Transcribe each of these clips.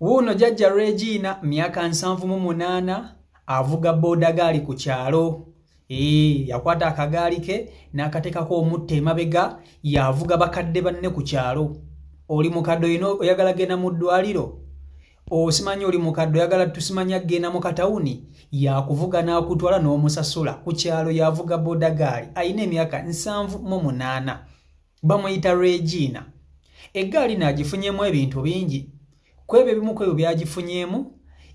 Wuuno jajja Regina myaka nsanvu mu munaana avuga boodagaali ku kyalo ee yakwata akagaali ke n'akateekako omutta emabega yavuga bakadde banne ku kyalo oli mukadde olina oyagala genda mu ddwaliro osimanya oli mukadde oyagala tusimanya genda mu katawuni yakuvuga n'akutwala n'omusasula ku kyalo yavuga boodagaali alina emyaka nsanvu mu munaana bamuyita regiina eggaali naagifunyeemu ebintu bingi ku ebyo ebimu ku ebyo byagifunyeemu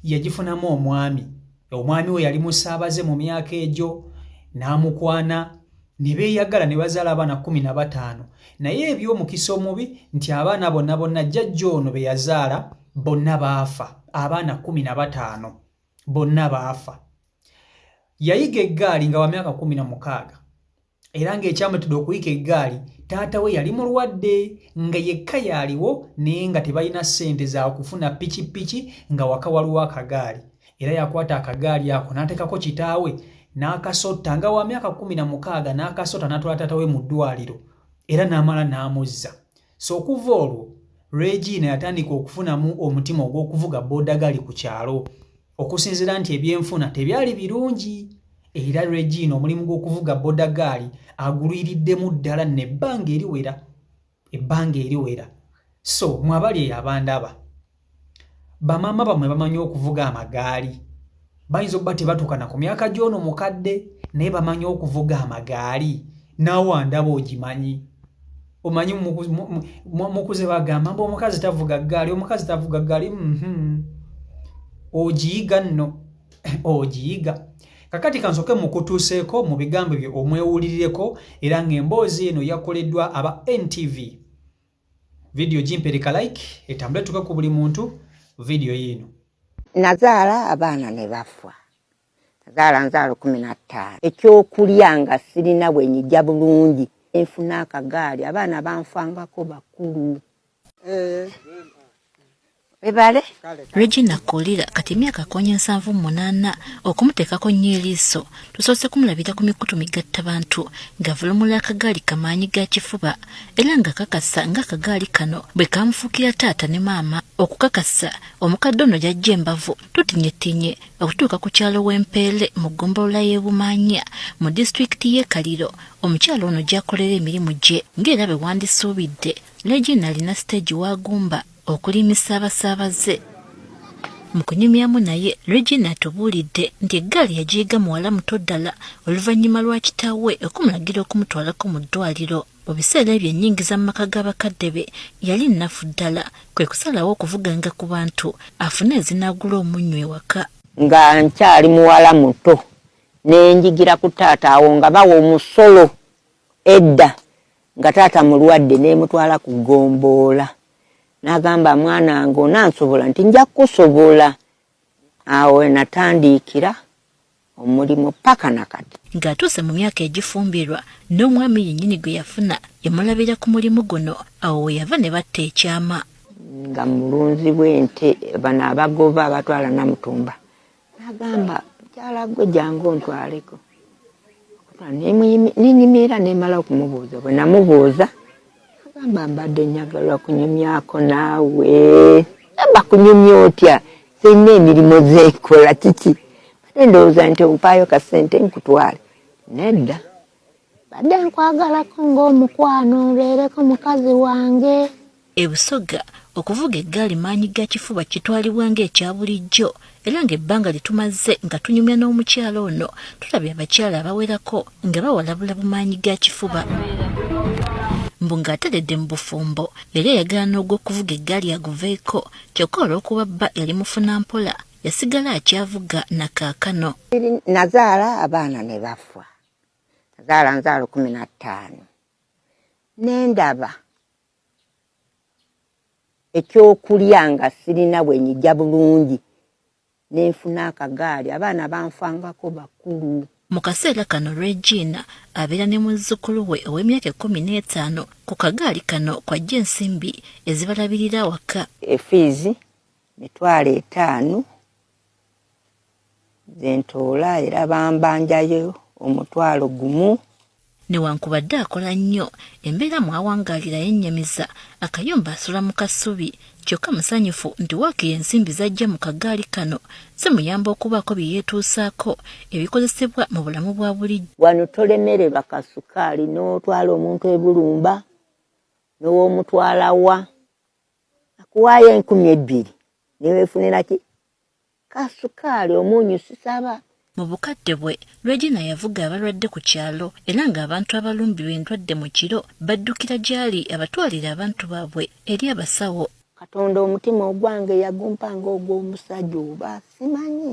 yagifunamu omwami omwami we yali musaabaze mu myaka egyo n'amukwana ne beeyagala ne bazaala abaana kumi na bataano naye eby'omukisa omubi nti abaana bonna bonna jjajja ono be yazaala bonna baafa abaana kumi na bataano bonna baafa yayiga eggaali nga wa myaka kumi na mukaaga era ng'ekyamutidde okuyika eggaali taata we yali mulwadde nga yekka yaaliwo naye nga tebalina ssente za kufuna pikipiki nga waka waliwo akagaali era yakwata akagaali ako n'ateekako kitaawe n'akasotta nga wa myaka kumi na mukaaga n'akasotta n'atwala taata we mu ddwaliro era n'amala n'amuzza So okuva olwo Regina yatandika okufunamu omutima ogw'okuvuga boodagali ku kyalo okusinzira nti ebyenfuna tebyali birungi era Regina omulimu gw'okuvuga bodagaali agulwiriddemu ddala nebbanga eriwera ebbanga eriwera so mwabali eyo abandaba bamaama bamwe bamanyi okuvuga amagaali bayinza okuba tebatukana ku myaka gy'ono mukadde naye bamanyi okuvuga amagaali naawe andaba ogimanyi omanyi mukuze bagamba mba omukazi tavuga ggaali omukazi tavuga ggaali mhm. ogiyiga nno ogiyiga kakati kansoke mukutuuseeko mu bigambo bye omwewulirireko era ng'emboozi eno yakoleddwa aba ntv vidiyo gimpereka like etambule tuke ku buli muntu vidiyo yiino nazaala abaana ne bafa nazaala nzaala kumi na ttaano ekyokulya nga sirina bwe nyija bulungi enfuna akagaali abaana banfangako bakulu eh. webale regina kolira kati emyaka konya nsanvu munaana okumuteekako nnyo eriiso tusoose kumulabira ku mikutu migatta bantu ng'avulumula akagaali kamaanyi ga kifuba era ng'akakasa ng'akagaali kano bwe kamufuukira taata ne maama okukakasa omukadde ono gyajja embavu tutinyetinye okutuuka ku kyalo w'empeere mu ggombolola y'ebumaanya mu disitulikiti y'e kaliro omukyalo ono gy'akolera emirimu gye ng'era bwe wandisuubidde regina alina siteegi w'agumba okulimisa abasaabaze mu kunyumyamu naye regina atubuulidde nti eggaali yagiyiga muwala muto ddala oluvannyuma lwa kitaawe okumulagira okumutwalako mu ddwaliro mu biseera ebyo ennyingiza mu maka g'abakadde be yali nnafu ddala kwe kusalawo okuvuganga ku bantu afune ezinaagula omunnyo ewaka nga nkyali muwala muto nenjigira ku taata awo nga bawa omusolo edda nga taata mulwadde nemutwala ku gomboola nagamba mwana nga onansobola nti nja kukusobola awo natandiikira omulimu paka nakati ng'atuuse mu myaka egifumbirwa n'omwami yennyini gwe yafuna yamulabira ku mulimu guno awo we yava ne batta ekyama nga mulunzi bw'ente bano abagoba abatwala namutumba nagamba mukyala gwe jangu ontwaleko nenyumira nemala okumubuuza bwe namubuuza agamba mbadde nyagalwa kunyumyako naawe amba kunyumya otya zirina emirimu zekola kiki ate ndowooza nti ompaayo kasente nkutwale nedda badde nkwagalako ng'omukwano obeereko mukazi wange e busoga okuvuga eggaali maanyi ga kifuba kitwalibwa ng'ekya bulijjo era ng'ebbanga lye tumaze nga tunyumya n'omukyala ono tulabye abakyala abawerako nga bawalabula bumaanyi ga kifuba mbu ng'ateredde mu bufumbo yali ayagala n'ogw'okuvuga eggaali aguveeko kyokka olw'okuba bba yali mufuna mpola yasigala akyavuga na kaakano nazaala abaana ne bafa zaala nzaalo kumi na ttaano ne ndaba ekyokulya nga sirina bwe nyija bulungi ne nfuna akagaali abaana banfangako bakulu mu kaseera kano regina abeera ne muzzukulu we ow'emyaka ekkumi n'etaano ku kagaali kano kwajja ensimbi ezibalabirira awaka efiizi mitwalo etaano zentoola era bambanjayo omutwalo gumu newankubadde akola nnyo embeera mwawangaalira yennyamiza akayumba asula mu kasubi kyokka musanyufu nti waakiri ensimbi z'ajja mu kagaali kano zimuyamba okubaako bye yeetuusaako ebikozesebwa mu bulamu bwa bulijjo wano tolemererwa kasukaali n'otwala omuntu ebulumba n'owomutwala wa akuwaayo enkumi ebbiri newefunira ki kasukaali omunyu sisaba Mu bukadde bwe, Regina yavuga abalwadde ku kyalo era ng'abantu abalumbirwa endwadde mu kiro baddukira gy'ali abatwalire abantu baabwe eri abasawo. Katonda omutima ogwange yagumpa ng'ogw'omusajja oba simanyi.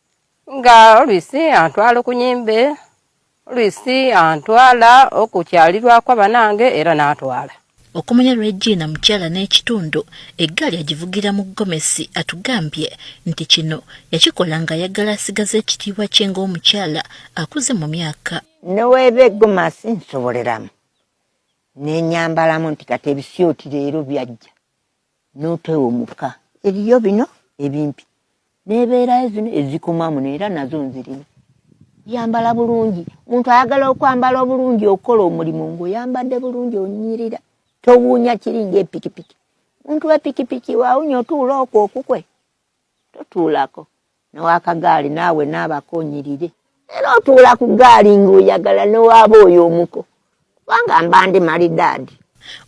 nga oluisi antwala okunyimbe oluisi antwala okukyalirwako abanange era natwala okumanya regina mukyala n'ekitundu eggaali agivugira mu gomesi atugambye nti kino yakikola ng'ayagala asigaza ekitiibwa kye ng'omukyala akuze mu myaka neweeba egomasi nsoboleramu nenyambalamu nti kati ebisioti leero byajja n'otewo mukka eriyo bino ebimpi n'ebeerayo zino ezikomamu neera nazo nzirina yambala bulungi muntu ayagala okwambala obulungi okukola omulimu ngaoyambadde bulungi onyirira towuunya kiri ngaepikipiki muntu wepikipiki wawunya otuula okwo okukwe totuulako newakagaali naawe naabako onyirire era otuula ku gaali ng'oyagala newaaba oyo omuko kubanga mba ndi malidaadi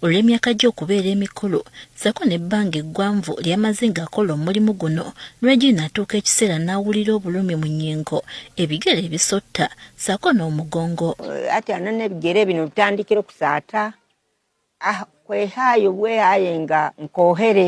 olw'emyaka gye okubeera emikulu sako n'ebbanga eggwanvu ly'amaze ng'akola omulimu guno regina atuuka ekiseera n'awulira obulumi mu nnyingo ebigere ebisotta sako n'omugongo ati ana n'ebigere bino bitandikira okusaata ah, kwehaayo bwehaaye nga nkoohere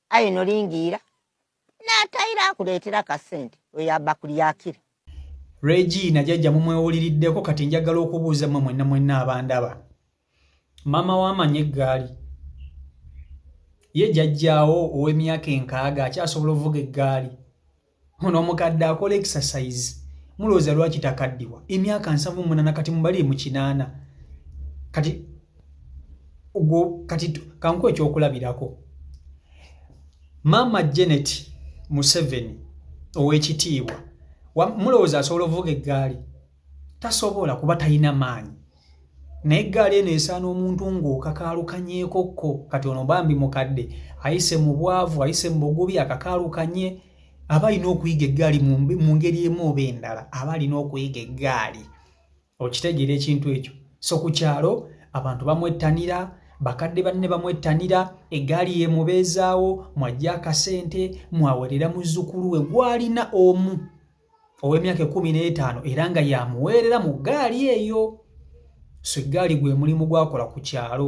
aye nolingiira n'atayira akuleetera kasente oyo aba kulyakira regina jajja mumwewuliriddeko kati njagala okubuuza mwe mwenna mwenna abandaba maama wamanya eggaali ye jajjaawo ow'emyaka enkaaga akyasobola ovuga eggaali ono omukadde akola exercise mulowooza lwaki takaddiwa emyaka nsanvu munana kati mubalire mu kinaana kati ogwo kati kanku ekyokulabirako maama janet museveni ow'ekitiibwa mulowooza asobola ovuga eggaali tasobola kuba talina maanyi naye eggaali eno esaana omuntu ng'okakaalukanyeko kko kati ono bambi mukadde ayise mu bwavu ayise mu bugubi akakaalukanye aba alina okuyiga eggaali mu ngeri emu oba endala aba alina okuyiga eggaali okitegeera ekintu ekyo so ku kyalo abantu bamwettanira bakadde banne bamwettanira eggaali yemubeezaawo mwajja akasente mwawerera muzzukulu we gwalina omu ow'emyaka ekkumi n'etaano era nga yamuweerera mu ggaali eyo so eggaali gwe mulimu gwakola ku kyalo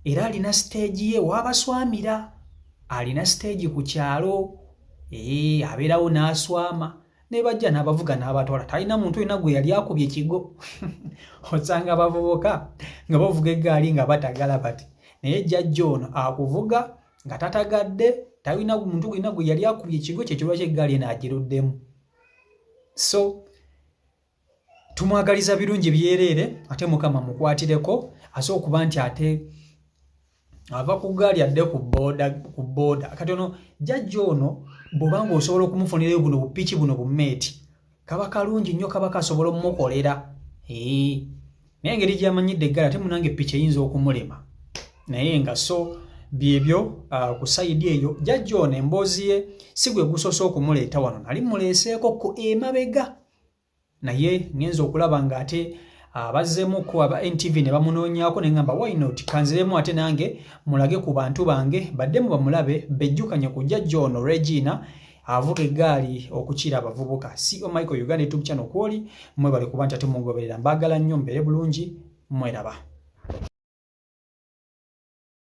era alina siteegi ye waabaswamira alina siteegi ku kyalo ee abeerawo n'aswama ne bajja n'abavuga n'abatwala talina muntu olina gwe yali akubye kigo osanga abavubuka nga bavuga eggaali nga batagala bati naye jjajja ono akuvuga nga tatagadde talina muntu gwena gwe yali akubye ekigwe kyekyo lwaki eggaali eno agiruddemu so tumwagaliza birungi byereere ate mukama mukwatireko ase okuba nti ate ava ku gaali adde ku booda kati ono jajja ono bwobanga osobola okumufunirayo buno bupiki buno bumeeti kaba kalungi nnyo kaba kasobola omukolera naye engeri gyamanyidde eggala ate munange piki eyinza okumulema naye nga so byebyo uh, ku sayidi eyo jajja ono emboozi ye si gwe gusoose okumuleeta wano nali muleeseeko ku emabega naye ngenza okulaba nga ate abazzemuko uh, aba ntv ne bamunoonyaako naye ngamba wynot kanziremu ate nange mulage ku bantu bange baddemu bamulabe bejjukanye ku jajja ono regina avuga eggaali okukira abavubuka ceo michael uganda youtube channel kwoli mwebale kuba nti ate mungoberera mbaagala nnyo mbeere bulungi mweraba